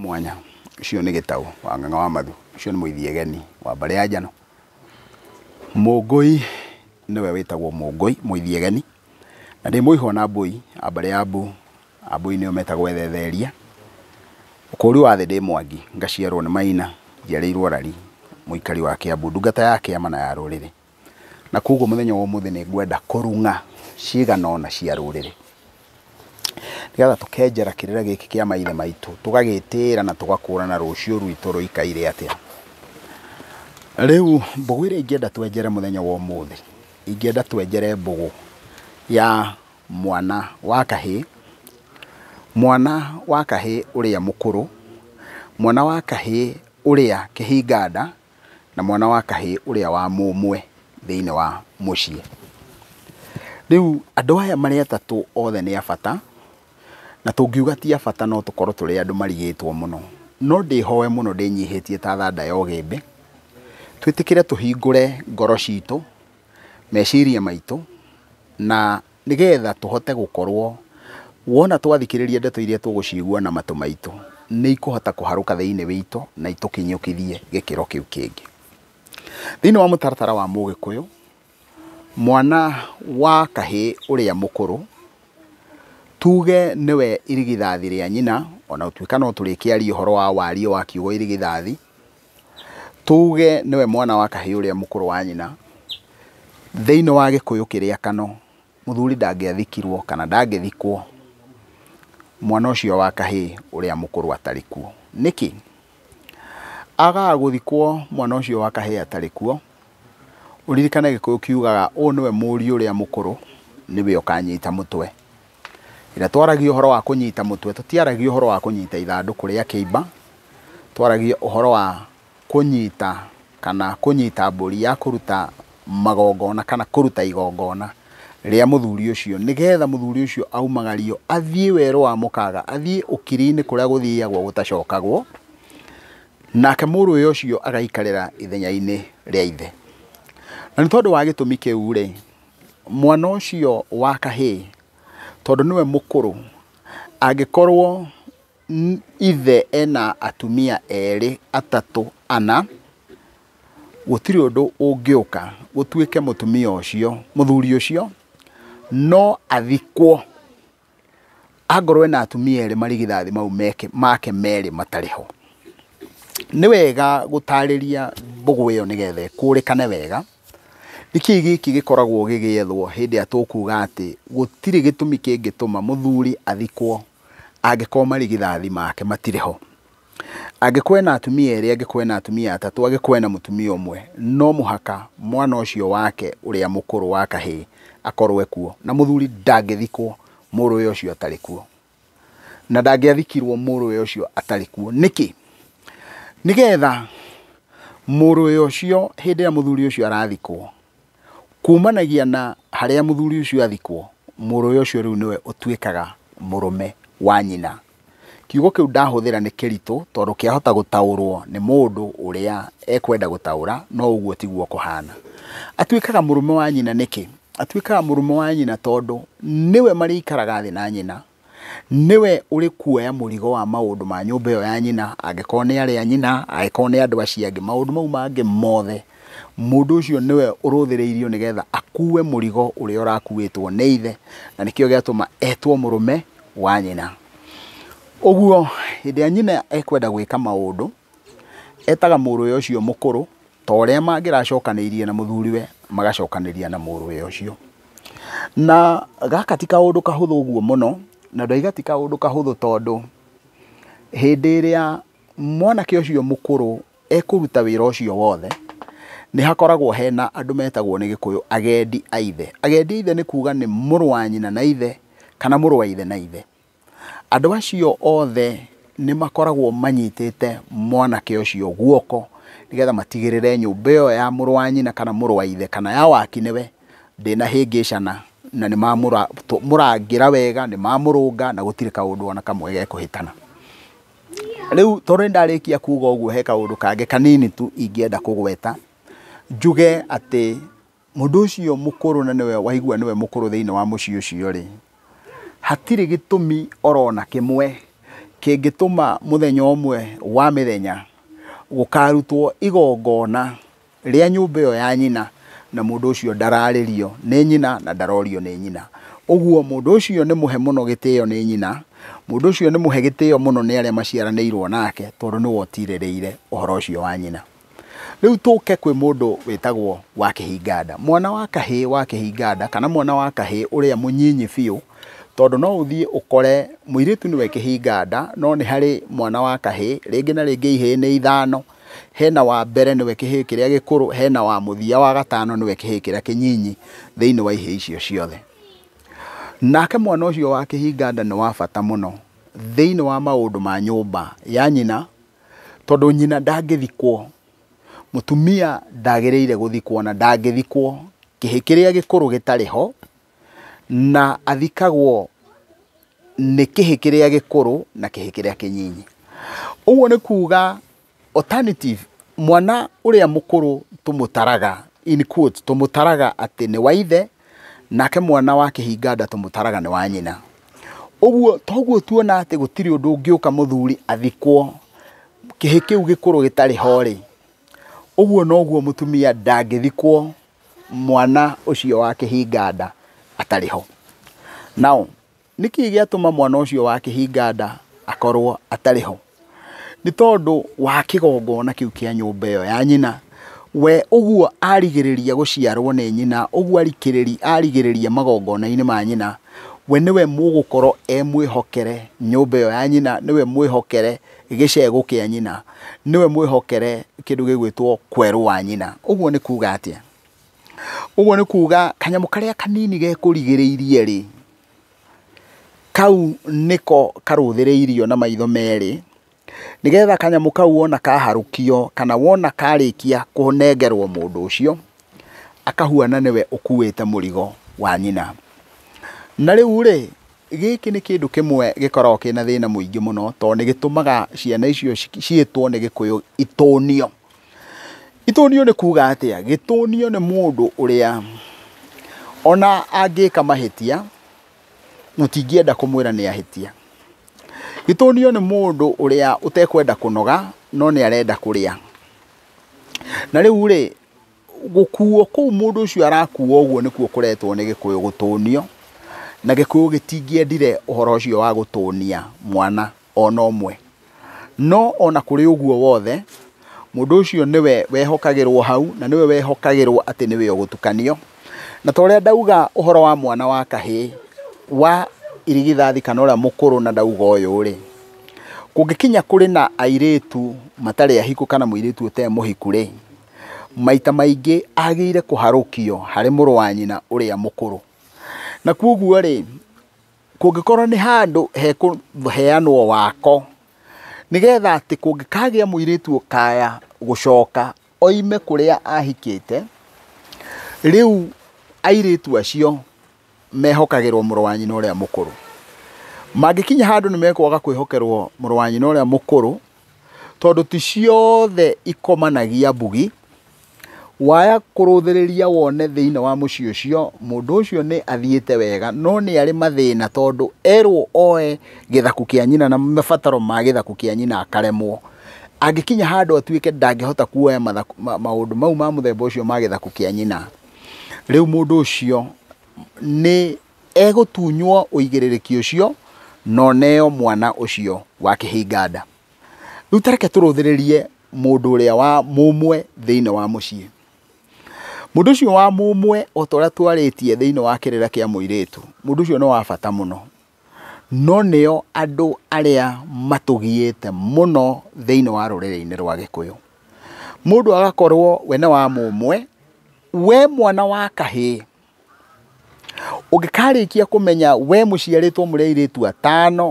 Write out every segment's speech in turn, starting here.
mwanya ũcio nĩ gĩtaũ wa ng'ang'a wa mathu ũcio nĩ mũithiegeni wa mbarĩ ya njano mũngũi nĩwe wĩtagwo mũngũi mũithiegeni na ndĩ mũihwo na mbũi a mbarĩ ya mbu a mbũi nĩo metagwo ethetheria ũkũri wa thĩ ndĩ mwangi ngaciarwo nĩ maina njiarĩirwo rari mũikari wa kĩambu ndungata ya kĩama na ya rũrĩrĩ Na koguo mũthenya wa ũmũthĩ nĩ ngwenda kũrung'a cigana ũna cia rũrĩrĩ, nĩgetha tũkenjera kĩrĩra gĩkĩ kĩa maithe maitũ, tũgagĩtĩĩra na tũgakũũrana rũciũ rwitũ rũikaire atĩa. Rĩu mbũgũ ĩrĩa ingĩenda twenjere mũthenya wa ũmũthĩ, ingĩenda twenjere mbũgũ ya mwana wa kahĩ, mwana wa kahĩ ũrĩa mũkũrũ, mwana wa kahĩ ũrĩa kĩhinganda. na mwana wa kahĩĩ ũrĩa wa mũmwe thĩinĩ wa mũciĩ. Rĩu andũ aya marĩ atatũ othe nĩ a bata, na tũngiuga ti a bata no tũkorwo tũrĩ andũ marigĩtwo mũno. No ndĩhoe mũno ndĩnyihĩtie ta thanda ya ũgĩmbĩ, twĩtĩkĩre tũhingũre ngoro citũ, meciria maitũ, na Nĩgetha tũhote gũkorwo, wona twathikĩrĩria ndeto iria tũgũciigua na matũ maitũ, nĩ ikũhota kũharũka thĩinĩ witũ na itũkinyũkithie gĩkĩro kĩu kĩngĩ. Thĩinĩ wa mũtaratara wa Mũgĩkũyũ, mwana wa kahĩĩ ũrĩa mũkũrũ, tuge nĩwe irigithathi rĩa nyina, ona gũtuĩka no tũrĩkĩaria ũhoro wa wariĩ wa kiugo irigithathi, Tuge nĩwe mwana wa kahĩĩ ũrĩa mũkũrũ wa nyina, thĩinĩ wa gĩkũyũ kĩrĩa kano, mũthuri ndangĩathikirwo kana ndangĩthikwo mwana ũcio wa kahĩĩ ũrĩa mũkũrũ atarĩ kuo. Nĩkĩ? Agaga gũthikwo mwana ũcio wa kahĩĩ atarĩ kuo, ũririkane gĩkũyũ kiugaga ũyũ nĩwe mũriũ ũrĩa mũkũrũ, nĩwe ũkanyita mũtwe. Ira twaragia ũhoro wa kũnyita mũtwe, tũtiaragia ũhoro wa kũnyita ithandũkũ rĩa kĩimba, twaragia ũhoro wa kũnyita kana kũnyita mbũri ya kũruta magongona kana kũruta igongona rĩa mũthuri ũcio, nĩgetha mũthuri ũcio aumagario athiĩ werũ wa mũkaga, athiĩ ũkiri-inĩ kũrĩa gũthiagwo gũtacokagwo, nake mũrũwe ũcio agaikarĩra ithenya-inĩ rĩa ithe. Na nĩ tondũ wa gĩtũmi kĩu rĩ, Mwana ũcio wa kahĩĩ tondũ nĩwe mũkũrũ, angĩkorwo ithe ena atumia erĩ, atatũ, ana, gũtirĩ ũndũ ũngĩũka gũtuĩke mũtumia ũcio, mũthuri ũcio no athikwo. Angorwo ena atumia erĩ marigithathi mau make merĩ matarĩ ho, nĩ wega gũtarĩria mbũgũ ĩyo nĩ getha ĩkũrĩkane wega, nĩ kĩĩ gĩkĩ gĩkoragwo gĩgĩethwo hĩndĩ ĩrĩa tũkuga atĩ gũtirĩ gĩtũmi kĩngĩtũma mũthuri athikwo angĩkorwo marigithathi make matirĩ ho. Angĩkorwo ena atumia erĩ, angĩkorwo ena atumia atatũ, angĩkorwo ena mũtumia ũmwe, no mũhaka mwana ũcio wake ũrĩa mũkũrũ wa kahĩĩ akorwo ekuo, na mũthuri ndangĩthikwo mũrũwe ũcio atarĩ kuo, na ndangĩathikirwo mũrũwe ũcio atarĩ kuo. Nĩkĩ? Nĩgetha mũrũwe ũcio hĩndĩ ĩrĩa mũthuri ũcio arathikwo, Kuumanagia na harĩa mũthuri ũcio athikwo, mũrũwe ũcio rĩu nĩwe ũtuĩkaga mũrũme wa nyina. Kiugo kĩu ndahũthĩra nĩ kĩritũ tondũ kĩahota gũtaũrwo nĩ mũndũ ũrĩa ekwenda gũtaũra, no ũguo tiguo kũhana. Atuĩkaga mũrũme wa nyina nĩkĩ? Atuĩkaga mũrũme wa nyina tondũ nĩwe marĩikaraga thĩ na nyina, nĩwe ũrĩkuoya mũrigo wa maũndũ ma nyũmba ĩyo ya nyina, angĩkorwo nĩ arĩ a nyina, angĩkorwo nĩ andũ acio angĩ, maũndũ mau mangĩ mothe, mũndũ ũcio nĩwe ũrũthĩrĩirio nĩgetha akue mũrigo ũrĩa ũrakuĩtwo nĩ ithe, na nĩkĩo gĩatũma etwo mũrũme wa nyina. Ũguo hĩndĩ ĩrĩa nyina ekwenda gwĩka maũndũ, Etaga mũrũwe ũcio mũkũrũ ta ũrĩa mangĩracokanĩirie na mũthuriwe magacokanĩria na mũrũwe ũcio. Na gaka ti kaũndũ kahũthũ ũguo mũno, na ndauga ti kaũndũ kahũthũ tondũ hĩndĩ ĩrĩa mwanake ũcio mũkũrũ ekũruta wĩra ũcio wothe, nĩ hakoragwo hena andũ metagwo nĩ gĩkũyũ agendi a ithe. Agendi a ithe nĩ kuga nĩ mũrũ wa nyina na ithe kana mũrũ wa ithe na ithe. Andũ acio othe nĩ makoragwo manyitĩte mwanake ũcio guoko nĩgetha matigĩrĩre nyũmba ĩyo ya mũrũ wa nyina kana mũrũ wa ithe kana ya waki nĩwe ndĩnahĩngĩcana na nĩ mamũrangĩra wega, nĩ mamũrũnga na gũtirĩ kaũndũ ona kamwe gekũhĩtana. Rĩu tondũ nĩ ndarĩkia kuga ũguo he kaũndũ kangĩ kanini tu ingĩenda kũgweta, njuge atĩ... Mũndũ ũcio mũkũrũ na nĩwe waigua nĩwe mũkũrũ thĩinĩ wa mũciĩ ũcio-rĩ, hatirĩ gĩtũmi oro na kĩmwe kĩngĩtũma mũthenya ũmwe wa mĩthenya gũkarutwo igongona rĩa nyũmba ĩyo ya nyina na mũndũ ũcio ndararĩrio nĩ nyina na ndarorio nĩ nyina. Ũguo mũndũ ũcio nĩ mũhe mũno gĩtĩo nĩ nyina, mũndũ ũcio nĩ mũhe gĩtĩo mũno nĩ arĩa maciaranĩirwo nake tondũ nĩwe ũtirĩrĩire ũhoro ũcio wa nyina. Rĩu tũke kwĩ mũndũ wĩtagwo wa kĩhinganda. Mwana wa kahĩ wa kĩhinganda kana mwana wa kahĩ ũrĩa mũnyinyi biũ, tondũ no ũthiĩ ũkore mũirĩtu nĩwe kĩhinganda no nĩ harĩ mwana wa kahĩ, rĩngĩ na rĩngĩ ihĩĩ nĩ ithano, hena wa mbere nĩwe kĩhĩĩ kĩrĩa gĩkũrũ, hena wa mũthia wa gatano nĩwe kĩhĩĩ kĩrĩa kĩnyinyi thĩinĩ wa ihĩĩ icio ciothe. Nake mwana ũcio wa kĩhinganda nĩ wa bata mũno thĩinĩ wa maũndũ ma nyũmba ya nyina. Tondũ nyina ndangĩthikwo, mũtumia ndagĩrĩire gũthikwo na ndangĩthikwo kĩhĩ kĩrĩa gĩkũrũ gĩtarĩ ho, na athikagwo nĩ kĩhĩ kĩrĩa gĩkũrũ na kĩhĩ kĩrĩa kĩnyinyi. Ũguo nĩ kuga alternative mwana ũrĩa mũkũrũ tũmũtaraga in quotes tũmũtaraga atĩ nĩ wa ithe. Nake mwana wa kĩhinga nda tũmũtaraga nĩ wa nyina. Ũguo toguo tuona atĩ gũtirĩ ũndũ ũngĩũka mũthuri athikwo kĩhĩ kĩu gĩkũrũ gĩtarĩ ho-rĩ, ũguo noguo mũtumia ndangĩthikwo mwana ũcio wa kĩhinga nda atarĩ ho. Now, Nĩ kĩĩ gĩatũma mwana ũcio wa kĩhinga nda akorũo atarĩ ho? Nĩ tondũ wa kĩgongona kĩu kĩa nyũmba ĩyo ya nyina. We ũguo arigĩrĩria gũciarũo nĩ nyina, ũguo arigĩrĩria magongona-inĩ ma nyina, we nĩwe mũgũkorũo e mwĩhokere nyũmba ĩyo ya nyina, nĩwe mwĩhokere gĩcegũ kĩa nyina, nĩwe mwĩhokere kĩndũ gĩgwĩtwo kwerũ wa nyina. Ũguo nĩ kuuga atĩa? Ũguo nĩ kuga kanyamũ karĩa kanini gekũrigĩrĩirie rĩ, kau nĩko karũthĩrĩirio na maitho merĩ, nĩgetha kanyamũ kau wona kaharũkio kana wona karĩkia kũnengerwo mũndũ ũcio, akahuana nĩwe ũkuĩte mũrigo wa nyina. Na rĩu rĩ, gĩkĩ nĩ kĩndũ kĩmwe gĩkoragwo kĩna thĩna mũingĩ mũno, tondũ nĩ gĩtũmaga ciana icio ciĩtwo nĩ gĩkũyũ itũnio. Itũnio nĩ kuuga atĩa? Gĩtũnio nĩ mũndũ ũrĩa ona angĩka mahĩtia tũtingĩenda kũmwĩra nĩ ahĩtia. Gĩtũnio nĩ mũndũ ũrĩa ũtekwenda kũnoga no nĩ arenda kũrĩa. Na rĩu rĩ, gũkuo kũu mũndũ ũcio arakuo ũguo nĩkuo kũretwo nĩ gĩkũyũ gũtũnio, na gĩkũyũ gĩtingĩendire ũhoro ũcio wa gũtũnia mwana. o na ũmwe. No o na kũrĩ ũguo wothe, mũndũ ũcio nĩwe wehokagĩrũo hau, na nĩwe wehokagĩrũo atĩ nĩwe ũgũtukanio. Na ta ũrĩa ndauga ũhoro wa mwana wa kahĩĩ wa irigithathi kana ũrĩa mũkũrũ na ndauga ũyũ-rĩ, kũngĩkinya kũrĩ na airĩtu matarĩ ahiku kana mũirĩtu ũtarĩ mũhiku-rĩ, maita maingĩ agĩrĩire kũharũkio harĩ mũrũ wa nyina ũrĩa mũkũrũ. Na kwoguo-rĩ, Kũngĩkorwo nĩ handũ hekũheanwo wako, nĩgetha atĩ kũngĩkagĩa mũirĩtu ũkaya gũcoka oime kũrĩa ahikĩte, rĩu airĩtu acio mehokagĩrwo mũrũ wa nyina ũrĩa mũkũrũ. Mangĩkinya handũ nĩ mekwaga kwĩhokerwo mũrũ wa nyina ũrĩa mũkũrũ, tondũ ti ciothe ikomanagia mbugi, Waya kũrũthĩrĩria wone thĩinĩ wa mũciĩ ũcio, mũndũ ũcio nĩ athiĩte wega, no nĩ arĩ mathĩna tondũ erwo oe gĩthaku kĩa nyina na mabataro ma gĩthaku kĩa nyina akaremwo. Angĩkinya handũ atuĩke ndangĩhota kuoya maũndũ mau ma mũthemba ũcio ma gĩthaku kĩa nyina, rĩu mũndũ ũcio nĩ egũtunywo ũigĩrĩrĩki ũcio na oneo mwana ũcio wa kĩhinga nda. Rĩu ta reke tũrũthĩrĩrie mũndũ ũrĩa wa mũmwe thĩinĩ wa mũciĩ. Mũndũ ũcio wa mũmwe o ta ũrĩa twarĩtie thĩinĩ wa kĩrĩra kĩa mũirĩtu, mũndũ ũcio nĩ wa bata mũno. No nĩo andũ arĩa matũgiĩte mũno thĩinĩ wa rũrĩrĩ-inĩ rwa Gĩkũyũ. Mũndũ agakorwo we nĩ wa mũmwe, we mwana wa kahĩĩ, ũngĩkarĩkia kũmenya we mũciarĩtwo mũrĩ airĩtu atano,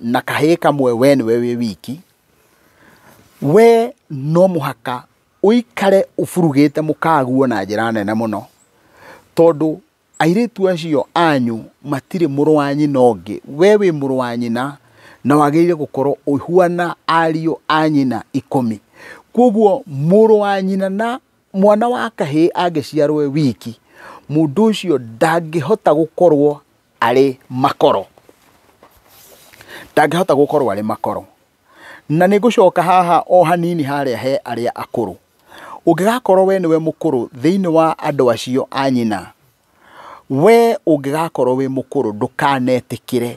na kahĩĩ kamwe we nĩwe wĩ wiki we no mũhaka ũikare ũburugĩte mũkaguo na njĩra nene mũno tondũ airĩtu acio anyu matirĩ mũrũ wa nyina ũngĩ we wĩ mũrũ wa nyina na wagĩrĩire gũkorwo ũhuana ariũ a nyina ikũmi kwoguo mũrũ wa nyina na mwana wa kahĩĩ angĩciarwo e wiki, mũndũ ũcio ndangĩhota gũkorwo arĩ makoro. Ndangĩhota gũkorwo arĩ makoro. Na nĩ ngũcoka haha o hanini harĩa he arĩa akũrũ. Ũngĩgakorwo we nĩwe mũkũrũ thĩinĩ wa andũ acio a nyina, we ũngĩgakorwo wĩ mũkũrũ ndũkanetĩkĩre.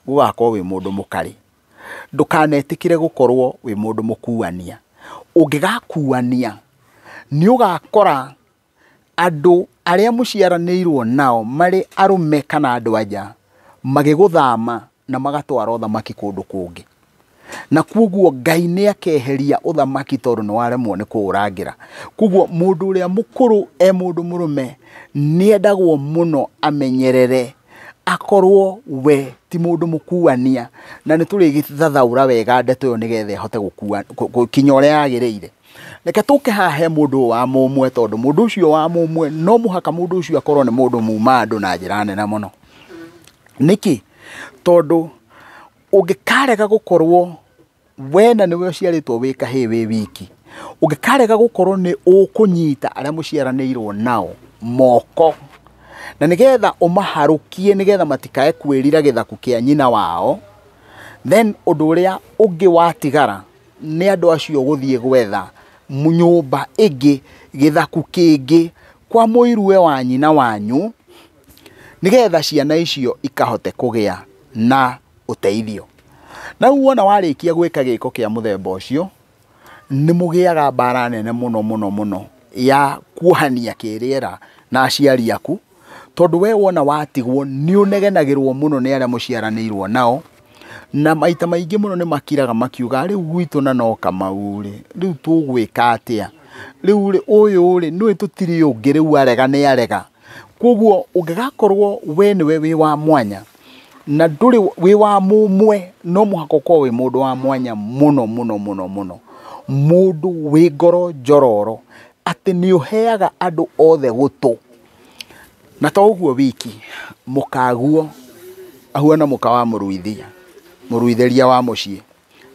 gũgakorwo wĩ mũndũ mũkarĩ. Ndũkanetĩkĩre gũkorwo wĩ mũndũ mũkuania. Ũngĩgakuania, nĩ ũgakora andũ arĩa mũciaranĩirwo nao marĩ arũme kana andũ-a-nja, magĩgũthama na magatwara ũthamaki kũndũ kũngĩ. Na kwoguo Ngai nĩ akeheria ũthamaki tondũ nĩ waremwo nĩ kũũrangĩra. Kwoguo mũndũ ũrĩa mũkũrũ e mũndũ mũrũme nĩ endagwo mũno amenyerere akorwo we ti mũndũ mũkuania na nĩ tũrĩgĩthathaũra wega ndeto ĩyo nĩgetha ĩhote gũkua- kũ- gũkinya ũrĩa yagĩrĩire reke tũke haha he mũndũ ũyũ wa mũmwe tondũ mũndũ ũcio wa mũmwe no mũhaka mũndũ ũcio akorwo nĩ mũndũ muma andũ na njĩra nene mũno nĩkĩ tondũ ũngĩkarega gũkorwo we na nĩwe ũciarĩtwo wĩ kahĩĩ wĩ wiki ũngĩkarega gũkorwo nĩ ũkũnyita arĩa mũciaranĩirwo nao moko na nĩgetha ũmaharũkie nĩgetha matikae kwĩrira gĩthaku kĩa nyina wao then ũndũ ũrĩa ũngĩ watigara nĩ andũ acio gũthiĩ gwetha nyũmba ĩngĩ gĩthaku kĩngĩ kwa mũirue wa nyina wanyu nĩgetha ciana icio ikahote kũgĩa na ũteithio. Na rĩu wona warĩkia gwĩka gĩko kĩa mũthemba ũcio, nĩ mũgĩaga mbara nene mũno mũno mũno ya kuohania kĩrĩera na aciari aku, tondũ we wona watigwo nĩ ũnegenagĩrwo mũno nĩ arĩa mũciaranĩirwo nao, na maita maingĩ mũno nĩ makiraga makiugaga rĩu gwitũ na no Kamau rĩ, rĩu tũgwĩka atĩa? Rĩu rĩ, ũyũ rĩ, nĩũĩ tũtirĩ ũngĩ rĩu arega nĩ arega. Kwoguo ũngĩgakorwo we nĩwe wĩ wa mwanya na ndũrĩ wĩ wa mũmwe, no mũhaka ũkorwo wĩ mũndũ wa mwanya mũno mũno mũno mũno, mũndũ wĩ ngoro njororo, atĩ nĩ ũheaga andũ othe gũtũ. Na to ũguo wiki, mũkaguo ahuana mũka wa mũruithia, mũruithĩria wa mũciĩ.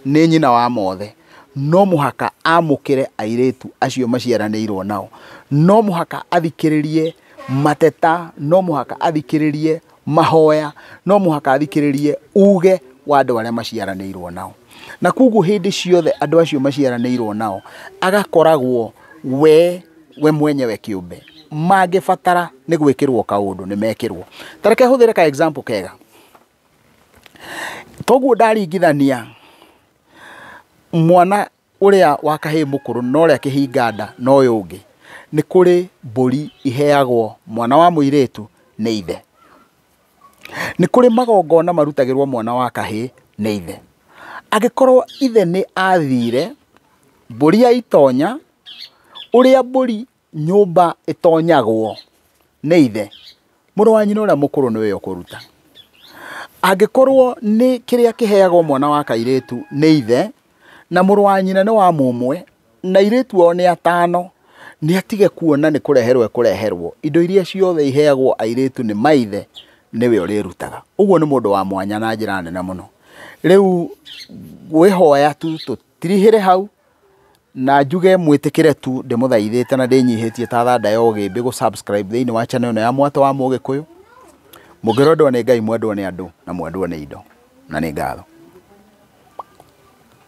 nĩ nyina wa mothe, no mũhaka amũkĩre airĩtu acio maciaranĩirwo nao, no mũhaka athikĩrĩrie mateta, no mũhaka athikĩrĩrie mahoya, no mũhaka athikĩrĩrie uge wa andũ arĩa maciaranĩirwo nao. Na koguo hĩndĩ ciothe andũ acio maciaranĩirwo nao agakoragwo we we mwenyewe kĩũmbe mangĩbatara nĩ gwĩkĩrwo kaũndũ nĩ mekĩrwo. Ta reke hũthĩre ka example kega. Toguo ndaringithania mwana ũrĩa wa kahĩĩ mũkũrũ na ũrĩa kĩhinga nda na ũyũ ũngĩ, nĩ kũrĩ mbũri iheagwo mwana wa mũirĩtu nĩ ithe. Nĩ kũrĩ magongona marutagĩrwo mwana wa kahĩĩ nĩ ithe. Angĩkorwo ithe nĩ athire, mbũri ya itonya, ũrĩa mbũri Nyũmba ĩtonyagwo nĩ ithe, mũrũ wa nyina ũrĩa mũkũrũ nĩwe ũkũruta. Angĩkorwo nĩ kĩrĩa kĩheagwo mwana wa kairĩtu nĩ ithe, na mũrũ wa nyina nĩ wa mũmwe, na airĩtu ao nĩ atano, nĩ atige kuona nĩ kũreherwo ekũreherwo. Indo iria ciothe iheagwo airĩtu nĩ maithe, nĩwe ũrĩrutaga. Ũguo nĩ mũndũ wa mwanya na njĩra nene mũno. Rĩu ngwĩhoya tu tũtirihĩre hau, Na njuge mwĩtĩkĩre tu ndĩmũthaithĩte na ndĩnyihĩtie ta thanda ya ũgĩmbĩ gũ subscribe thĩinĩ wa channel ĩno ya Mwatũ wa Mũgĩkũyũ. Mũngĩrwendwo nĩ Ngai mwendwo nĩ andũ na mwendwo nĩ indo. Na nĩ ngatho.